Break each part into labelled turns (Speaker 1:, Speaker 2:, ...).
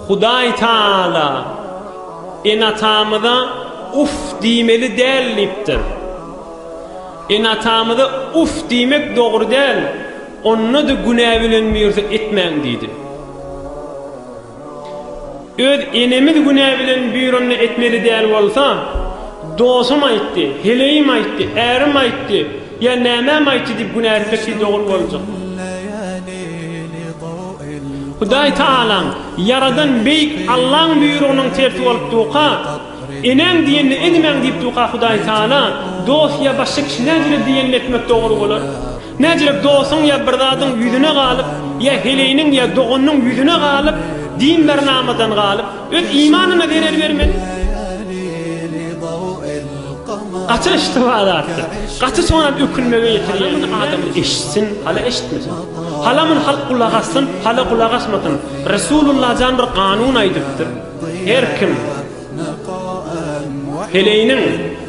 Speaker 1: Hudaý Taala ene-atamyza Uff diýmeli däl diýipdir. Ene-atamyza Uff diýmek dogry däl, onda-da günä bilen birde etmäň diýdi. Öz enemiz günä bilen bir onda etmeli däl bolsa, dosum aýtdy, heleýim aýtdy, ärim aýtdy, Ýa nämem aýtdy diýip günä etmek siz dogry boljak. Hudaý Taalaň, Ýaradan Beýik Allaň buýrugynyň tersi bolup duka, Eneň diýenini edimäň diýip duka Hudaý Taala, dost ýa başga kişi näjirek diýenini etmek dogry bolar. Näjirek dostuň ýa bir zadyň ýüzüne galyp, ýa heleýiniň ýa doganynyň ýüzüne galyp, din-bernamadan galyp, Öz imanyna zerer bermeli. Gaty yştyha zatdyr. Gaty soňam ökünmege ýetirýär. Halamyn adam eşitsin, hala eşitmesin. Halamyn halk gulak assyn, hala gulak asmasyn. Resulullah jan bir kanun aýdypdyr. Her kim heleýiniň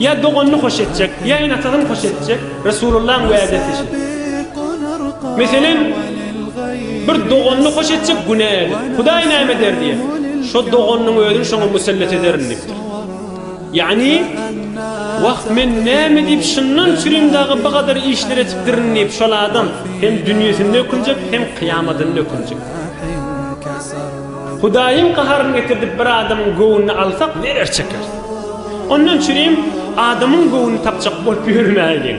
Speaker 1: Ýa doganyny hoş etjek, ýa ene-atasyny hoş etjek, Resulullahyň wädesi şu. Meselem, bir doganyny hoş etjek günä edip, Hudaý näme eder diýen, şo doganynyň özüni şoňa musellet ederin diýipdir. Ýagny, Wah, men näme diýip şundan çürin dagy bu gadar işler etipdirin diýip, şol adam hem dünýesinde ökünjek, hem kyýamadynda ökünjek. Hudaýyň gaharyny getirdip bir adamyň göwnüni alsak neler çekeris. Ondan çürim adamyň göwnüni tapjak bolup ýörmäýeliň.